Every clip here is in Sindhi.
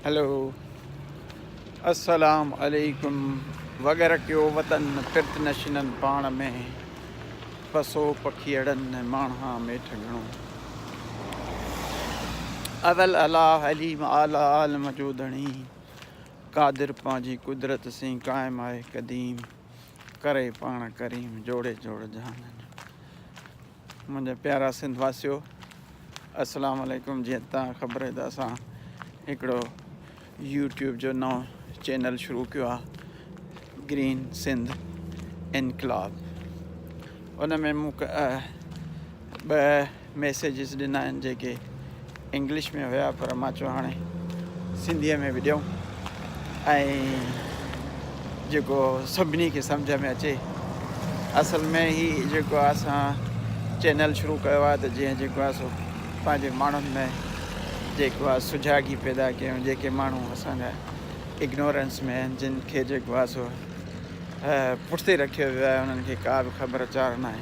هلو السلام عليڪم وغيره ڪيو وطن پرت نشينن پاڻ ۾ پسو پکيئڙن ماڻها ميٺ گهڻو اول الا حليم اعليٰ عالم جو ڌڻي قادر پنهنجي قدرت سين قائم آهي قديم ڪري پاڻ ڪريم جوڙي جوڙ جهانن منهنجا پيارا سنڌ واسيو السلام عليڪم جيئن تان خبر آهي ته اسان هڪڙو يوٽيوب جو نئون چينل شروع ڪيو آهي گرين سنڌ انقلاب ان ۾ مون ٻه ميسيجز ڏنا آهن جيڪي انگلش ۾ هيا پر مان چيو هاڻي سنڌيء ۾ به ڏيون ۽ جيڪو سڀني کي سمجهه ۾ اچي اصل ۾ هي جيڪو آهي اسان چينل شروع ڪيو آهي ته جيئن جيڪو آهي سو پنهنجي ماڻهن ۾ جيڪو آهي سجاڳي پيدا ڪيون جيڪي ماڻهو اسان جا اگنورنس ۾ آهن جن کي جيڪو آهي سو پٺتي رکيو ويو آهي انهن کي ڪا به خبر چار ناهي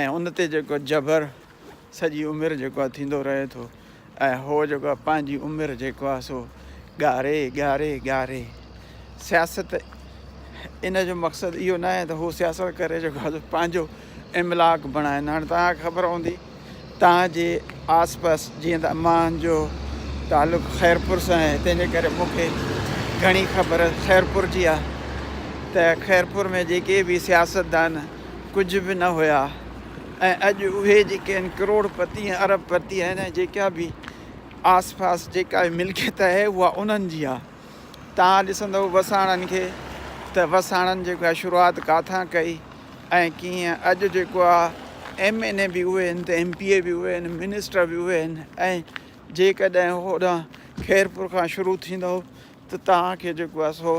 ۽ ان تي جيڪو جبر سڄي عمر جيڪو آهي ٿيندو رهي ٿو ۽ هو جيڪو آهي پنهنجي عمر جيڪو آهي سو ڳاري ڳاري ڳاري سياست ان جو مقصد اهو ناهي ته هو سياست ڪري جيڪو آهي سو پنهنجو املاڪ بڻائين هاڻي تهان کي خبر هوندي تان جي آس پاس جيئن ته امان جو تعلق خيرپور سان آهي تنهن جي ڪري مون کي گهڻي خبر خيرپور جي آهي ته خيرپور ۾ جيڪي به سياستدان ڪجهه به نه هيا ۽ اڄ اهي جيڪي آهن ڪروڙ پتي ۽ ارب پتي آهن ۽ جيڪا به آس پاس جيڪا به ملڪيت آهي اها انهن جي آهي تان ڏسندو وساڻن کي ته وساڻن جيڪا شروعات ڪاٿان ڪئي ۽ ڪيئن اڄ جيڪو آ ايم اين اي به اهي آهن ته ايم پي اي به اهي آهن منسٽر به اهي آهن ۽ جيڪڏهن هوڏانهن خيرپور کان شروع ٿيندو ته توهان کي جيڪو آ سو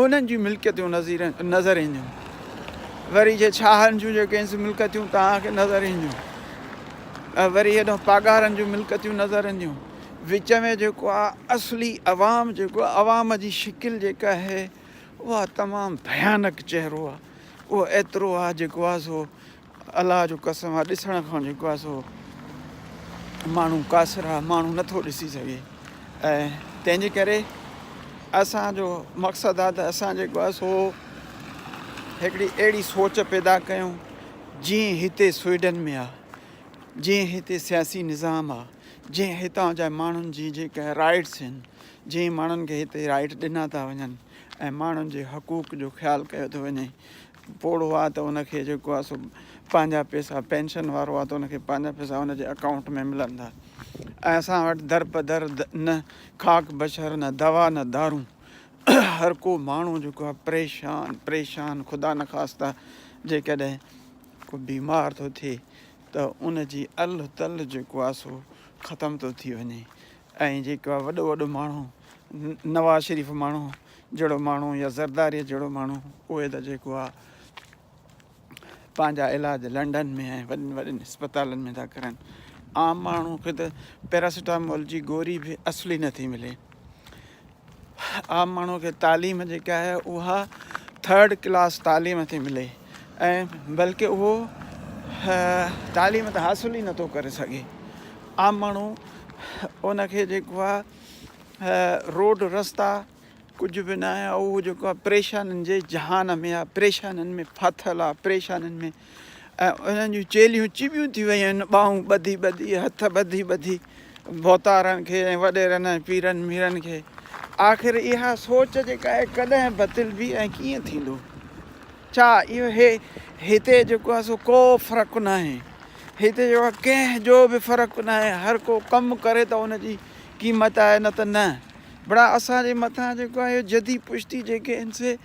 انهن جي ملڪيتون نظير نظر اينديون وري جي ڇاهن جون جيڪي آهن سي ملڪتيون توهان کي نظر اينديون وري هيڏانهن پاڳارن جون ملڪتيون نظر اينديون وچ ۾ جيڪو آ اصلي عوام جيڪو عوام جي شڪل جيڪا آهي اها تمام ڀيانڪ چهرو آ اهو ايترو آ جيڪو آ سو الله جو قسم آ ڏسڻ کان جيڪو آ سو ماڻهو قاصر آ ماڻهو نٿو ڏسي سگهي ۽ تنهنجي ڪري اسان جو مقصد آ ته اسان جيڪو آ سو هڪڙي اهڙي سوچ پيدا ڪيون جي هتي سوئيڊن ۾ آ جي هتي سياسي نظام آ جي هتان جا ماڻهن جي جيڪا رائيٽس هن جئين ماڻهن کي هتي رائيٽ ڏنا ٿا وڃن ۽ ماڻهن جي حقوق جو خيال ڪيو ٿو وڃي پوڙهو آ ته ان کي جيڪو آ سو پنهنجا پيسا پينشن وارو آ ته ان کي پنهنجا پيسا ان جي اڪائونٽ ۾ ملن ٿا ۽ اسان وٽ در په در نه خاڪ بشر نه دوا نه دارون هر ڪو ماڻهو جيڪو آ پريشان پريشان خدا نخواسته جيڪڏهن ڪو بيمار ٿو ٿئي ته ان جي ال تل جيڪو آ سو ختم ٿو ٿي وڃي ۽ جيڪا وڏو وڏو ماڻهو نواز شريف ماڻهو جهڙو ماڻهو يا زرداريء جهڙو ماڻهو اهي ته جيڪو آ پنهنجا علاج لنڊن ۾ ۽ وڏن وڏن اسپتالن ۾ ٿا ڪرن عام ماڻهو کي ته پيراسيٽامول جي گوري به اصلي نٿي ملي عام ماڻهو کي تعليم جيڪي آهي اها ٿرڊ ڪلاس تعليم ٿي ملي ۽ بلڪه اهو تعليم ته حاصل ئي نٿو ڪري سگهي عام ماڻهو ان کي جيڪو آهي روڊ رستا ڪجهه به ناهي اهو جيڪو آهي پريشانين جي جهان ۾ آهي پريشانين ۾ ڦاٿل آهي پريشانين ۾ ۽ انهن جون چيلهيون چٻيون ٿي ويون آهن، ٻانهون ٻڌي ٻڌي، هٿ ٻڌي ٻڌي، ڀوتارن کي ۽ وڏيرن ۽ پيرن ميرن کي. آخر اها سوچ جيڪا آهي ڪڏهن بتلبي ۽ ڪيئن ٿيندو؟ ڇا اهو هي هتي جيڪو آهي سو ڪو فرق ناهي؟ هتي جيڪو آهي ڪنهن جو به فرق ناهي، هر ڪو ڪم ڪري ته ان جي قيمت آهي نه ته نه. بڙا اسان جي مٿان جيڪو آهي اهو جدي پشتي جيڪي آهن سي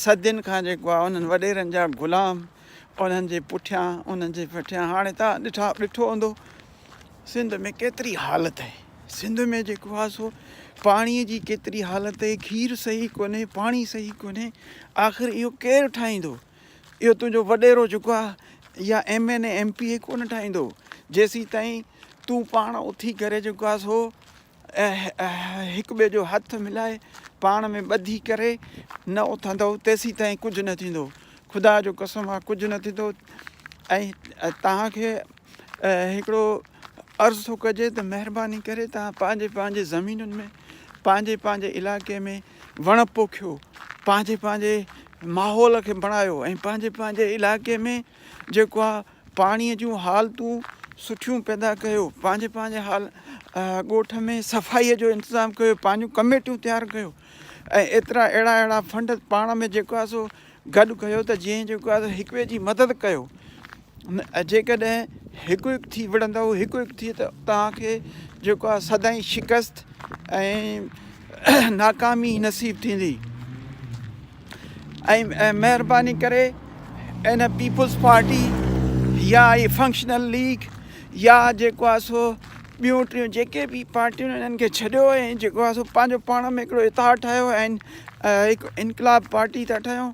صدين کان جيڪو آ انهن وڏيرن جا غلام انهن جي پٺيان انهن جي پٺيان هاڻي تان ڏٺا ڏٺو هوندو سنڌ ۾ ڪيتري حالت آهي سنڌ ۾ جيڪو آ سو پاڻي جي ڪيتري حالت آهي کير صحيح ڪونهي پاڻي صحيح ڪونهي آخر اهو ڪير ٺاهيندو اهو تنهنجو وڏيرو جيڪو آ يا M N A M P A ڪونه ٺاهيندو جيسي تائين تون پاڻ اٿي ڪري جيڪو آ سو هڪ ٻئي جو هٿ ملائي پاڻ ۾ ٻڌي ڪري نه اٿندؤ تيسيتائين ڪجهه نه ٿيندو. خدا جو قسم آ ڪجهه نه ٿيندو ۽ توهان کي هڪڙو عرض ٿو ڪجي ته مهرباني ڪري توهان پنهنجي پنهنجي زمينن ۾ پنهنجي پنهنجي علائقي ۾ وڻ پوکيو پنهنجي پنهنجي ماحول کي بڻايو ۽ پنهنجي پنهنجي علائقي ۾ جيڪو آ پاڻيء جون حالتون سٺيون پيدا ڪيو، پنهنجي پنهنجي حال ڳوٺ ۾ صفائيء جو انتظام ڪيو، پنهنجون ڪميٽيون تيار ڪيو ۽ ايترا اهڙا اهڙا فنڊ پاڻ ۾ جيڪو آهي سو گڏ ڪيو ته جيئن جيڪو آهي سو هڪ ٻئي جي مدد ڪيو ۽ جيڪڏهن هڪ هڪ ٿي وڙهندؤ هڪ هڪ ٿي ته توهان کي جيڪو آهي سدائين شڪست ۽ ناڪامي نصيب ٿيندي. ۽ مهرباني ڪري ان پيپلز پارٽي يا هي فنڪشنل ليگ يا جيڪو آهي سو ٻيون ٽيون جيڪي بي پارٽيون انهن کي ڇڏيو ۽ جيڪو آهي سو پنهنجو پاڻ ۾ هڪڙو اتحاد ٺاهيو ۽ هڪ انقلاب پارٽي ٿا ٺاهيو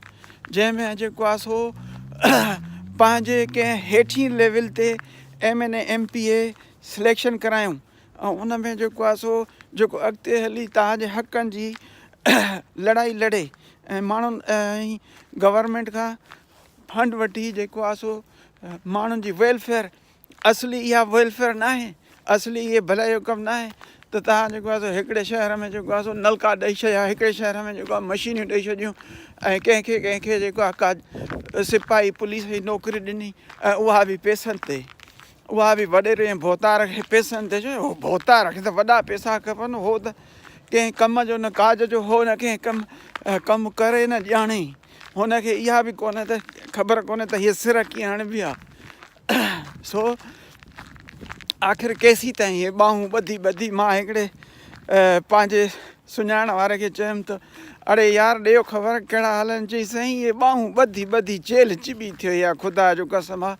جنهن ۾ جيڪو آهي سو پنهنجي ڪنهن هيٺين ليول تي M N M P A selection ڪرايون ۽ ان ۾ جيڪو آهي سو جيڪو اڳتي هلي توهان جي حقن جي لڙائي لڙي ۽ ماڻهن ۽ گورنمينٽ کان فنڊ وٺي جيڪو آهي سو ماڻهن جي ويلفيئر اصلي اها ويلفيئر نه آهي اصلي اهي ڀلائي جو ڪم نه آهي ته توهان جيڪو آهي سو هڪڙي شهر ۾ جيڪو آهي سو نلڪا ڏئي ڇڏيا هڪڙي شهر ۾ جيڪو آهي مشينيون ڏئي ڇڏيون ۽ ڪنهن کي ڪنهن کي جيڪو آهي ڪا سپاهي پوليس جي نوڪري ڏني ۽ اها بي پيسن تي اها به وڏيري ۽ ڀوتار کي پيسن تي چيو، هو ڀوتار کي ته وڏا پيسا کپن، هو ته ڪنهن ڪم جو نه ڪاج جو هو نه ڪنهن ڪم ڪم ڪري نه ڄاڻي، هن کي اها به ڪونهي ته خبر ڪونهي ته هيء سر ڪيئن هڻبي آ، سو آخر ڪيسيتائين هيء ٻانهون ٻڌي ٻڌي مان هڪڙي پنهنجي سڃاڻ واري کي چيم ته اڙي يار ڏيو خبر ڪهڙا حال آهن، چيائين سائين هيء ٻانهون ٻڌي ٻڌي چيلهه چٻي ٿيو آ، خدا جو قسم آ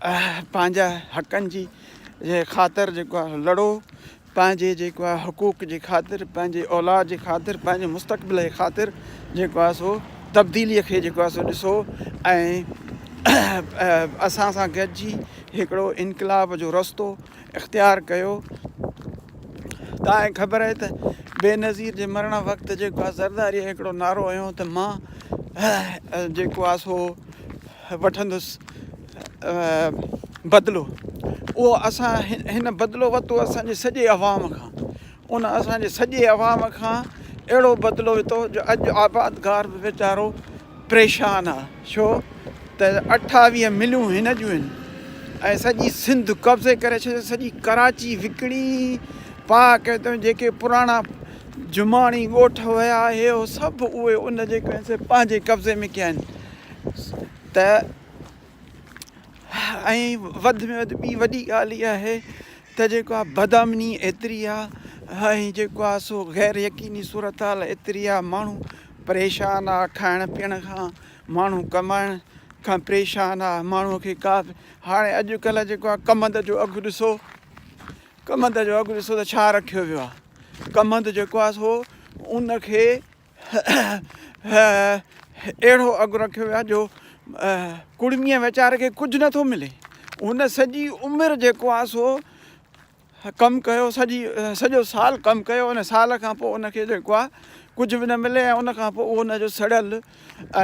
پنهنجا حقن جي خاطر جيڪو آهي لڙو پنهنجي جيڪو آهي حقوق جي خاطر پنهنجي اولاد جي خاطر پنهنجي مستقبل جي خاطر جيڪو آهي سو تبديلي کي جيڪو آهي سو ڏسو ۽ اسان سان گڏجي هڪڙو انقلاب جو رستو اختيار ڪيو تانئن خبر آهي ته بينظير جي مرڻ وقت جيڪو آ زرداريء هڪڙو نعرو هنيو ته مان جيڪو آ سو وٺندس بدلو اهو اسان هن بدلو ورتو اسان جي سڄي عوام کان ان اسان جي سڄي عوام کان اهڙو بدلو ورتو جو اڄ آبادگار به ويچارو پريشان آ ڇو ته اٺاويهه مليون هن جون آهن ۽ سڄي سنڌ قبضي ڪري ڇڏي سڄي ڪراچي وڪڻي پا ڪي ته جيڪي پراڻا جماڻي ڳوٺ هيا هي هو سڀ اهي ان جيڪي آهن سي پنهنجي قبضي ۾ ڪيا آهن ته ۽ وڌ ۾ وڌ ٻي وڏي ڳالهه اها آهي ته جيڪو آ بدامني ايتري آ ۽ جيڪو آ سو غير يقيني صورتحال ايتري آ ماڻهو پريشان آ کائڻ پيئڻ کان ماڻهو ڪمائڻ کان پريشان آ ماڻهو کي ڪا به هاڻي اڄ ڪلهه جيڪو آ ڪمند جو اگهه ڏسو ڪمند جو اگهه ڏسو ته ڇا رکيو ويو آ ڪمند جيڪو آ سو ان کي اهڙو اگهه رکيو ويو آهي جو ڪڙميء ويچاري کي ڪجهه نه ٿو ملي. هن سڄي عمر جيڪو آهي سو ڪم ڪيو، سڄي سڄو سال ڪم ڪيو ان سال کان پوء ان کي جيڪو آهي ڪجهه به نه ملي ۽ ان کان پوء ان جو سڙيل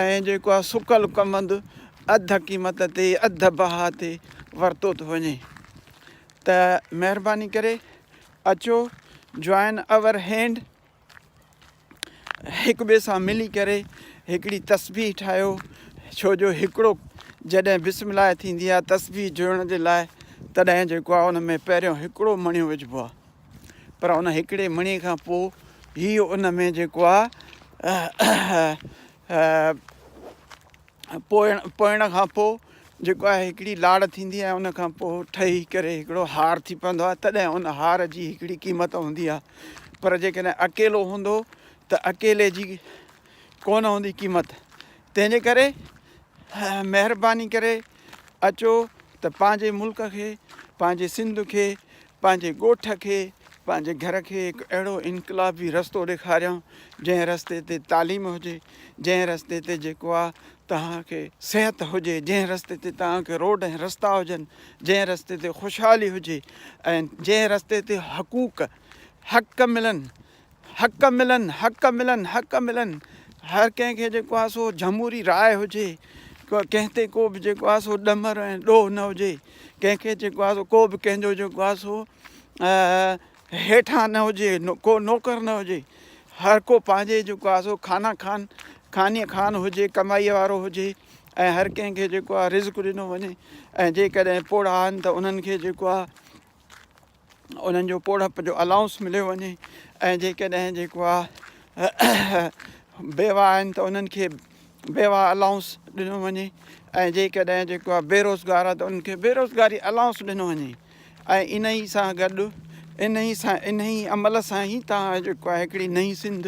۽ جيڪو آهي سڪل ڪمند اڌ قيمت تي اڌ بها تي ورتو ٿو وڃي ته مهرباني ڪري اچو جوائن آور هينڊ. هڪ ٻئي سان ملي ڪري هڪڙي تسبيح ٺاهيو ڇو جو هڪڙو جڏهن بسم الله ٿيندي آهي تسبيح جوڙڻ جي لاء تڏهن جيڪو آهي ان ۾ پهريون هڪڙو مڻيو وجهبو آهي پر ان هڪڙي مڻي کان پوء هي ان ۾ جيڪو آهي پوئڻ کان پوء جيڪو آهي هڪڙي لاڙ ٿيندي آهي ان کان پوء ٺهي ڪري هڪڙو هار ٿي پوندو آهي تڏهن ان هار جي هڪڙي قيمت هوندي آهي پر جيڪڏهن اڪيلو هوندو ته اڪيلي جي ڪونه هوندي قيمت تنهن جي ڪري مهرباني ڪري اچو ته پنهنجي ملڪ کي پنهنجي سنڌ کي پنهنجي ڳوٺ کي پنهنجي گهر کي هڪ اهڙو انقلابي رستو ڏيکاريان جنهن رستي تي تعليم هجي جنهن رستي تي جيڪو آ توهان کي صحت هجي جنهن رستي تي توهان کي روڊ ۽ رستا هجن جنهن رستي تي خوشحالي هجي ۽ جنهن رستي تي حقوق حق ملن حق ملن حق ملن حق ملن هر ڪنهن کي جيڪو آ سو جمهوري راء هجي ڪنهن تي ڪو به جيڪو آ سو ڏمر ۽ ڏوهه نه هجي ڪنهن کي جيڪو آ سو ڪو به ڪنهن جو جيڪو آ سو هيٺان نه هجي، ڪو نوڪر نه هجي، هر ڪو پنهنجي جيڪو آهي سو خانه خان، خاني خان هجي، ڪمائيء وارو هجي ۽ هر ڪنهن کي جيڪو آهي رزق ڏنو وڃي ۽ جيڪڏهن پوڙها آهن ته انهن کي جيڪو آهي انهن جو پوڙهپ جو الائونس مليو وڃي ۽ جيڪڏهن جيڪو آهي بيواهه آهن ته انهن کي بيواهه الائونس ڏنو وڃي ۽ جيڪڏهن جيڪو آهي بيروزگار آهي ته انهن کي بيروزگاري الائونس ڏنو وڃي ۽ انهيء سان گڏ انهيء سان انهيء عمل سان ئي توهان جيڪو آهي هڪڙي نئين سنڌ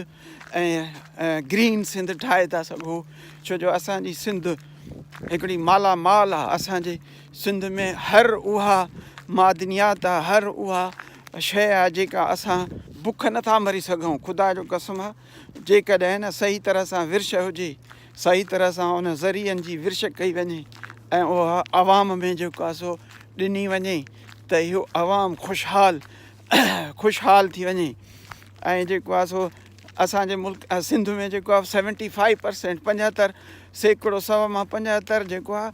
۽ گرين سنڌ ٺاهي ٿا سگهو ڇو جو اسان جي سنڌ هڪڙي مالا مال آهي اسان جي سنڌ ۾ هر اها معدنيات آهي هر اها شيء آهي جيڪا اسان بک نٿا مري سگهون خدا جو قسم آهي جيڪڏهن نه صحيح طرح سان ورڇ هجي، صحيح طرح سان ان ذريعن جي ورڇ ڪئي وڃي ۽ اها عوام ۾ جيڪو آهي سو ڏني وڃي ته اهو عوام خوشحال خوشحال ٿي وڃي ۽ جيڪو آهي سو اسان جي ملڪ سنڌ ۾ جيڪو آهي سيونٽي فائيو پرسينٽ پنجهتر سيڪڙو سو مان پنجهتر جيڪو آهي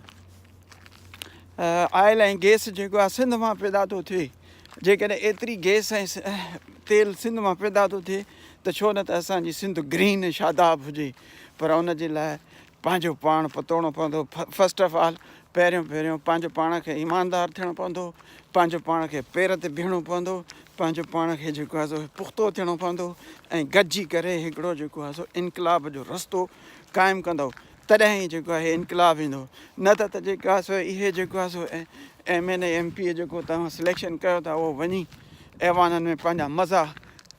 آئل ۽ گيس جيڪو آهي سنڌ مان پيدا ٿو ٿئي جيڪڏهن ايتري گئس ۽ تيل سنڌ مان پيدا ٿو ٿئي ته ڇو نه ته اسان جي سنڌ گرين ۽ شاداب هجي پر ان جي لاء پنهنجو پاڻ پتوڙڻو پوندو فرسٽ آف آل پهريون پهريون پنهنجو پاڻ کي ايماندار ٿيڻو پوندو پنهنجو پاڻ کي پير تي بيهڻو پوندو پنهنجو پاڻ کي جيڪو آهي سو پختو ٿيڻو پوندو ۽ گڏجي ڪري هڪڙو جيڪو آهي سو انقلاب جو رستو قائم ڪندو تڏهن هي جيڪو آهي انقلاب ايندو نه ته ته جيڪو آهي سو اهي جيڪو آهي سو M N A M P A جيڪو توهان سليڪشن ڪيو ٿا اهو وڃي ايوانن ۾ پنهنجا مزا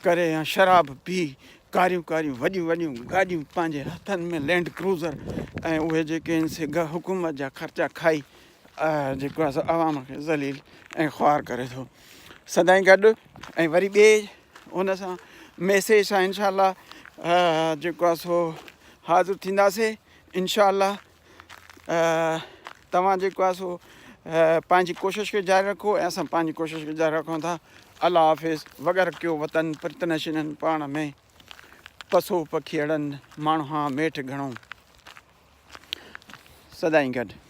ڪري يا شراب پي ڪاريون ڪاريون وڏيون وڏيون گاڏيون پنهنجي هٿن ۾ لينڊ ڪروزر ۽ اهي جيڪي آهن سي حڪومت جا خرچا کائي جيڪو عوام کي ذليل ۽ خوار ڪري ٿو سدائين گڏ ۽ وري ٻئي ان سان ميسيج سان انشاء الله جيڪو آ سو حاضر ٿينداسي انشاء الله توهان جيڪو آ سو پنهنجي ڪوشش کي جاري رکو ۽ اسان پنهنجي ڪوشش کي جاري رکون ٿا الله حافظ وغيرہ ڪيو وطن پرت نشينن پاڻ ۾ پسو پکيڙن ماڻهو هان ميٺ گھڻو سدائين گڏ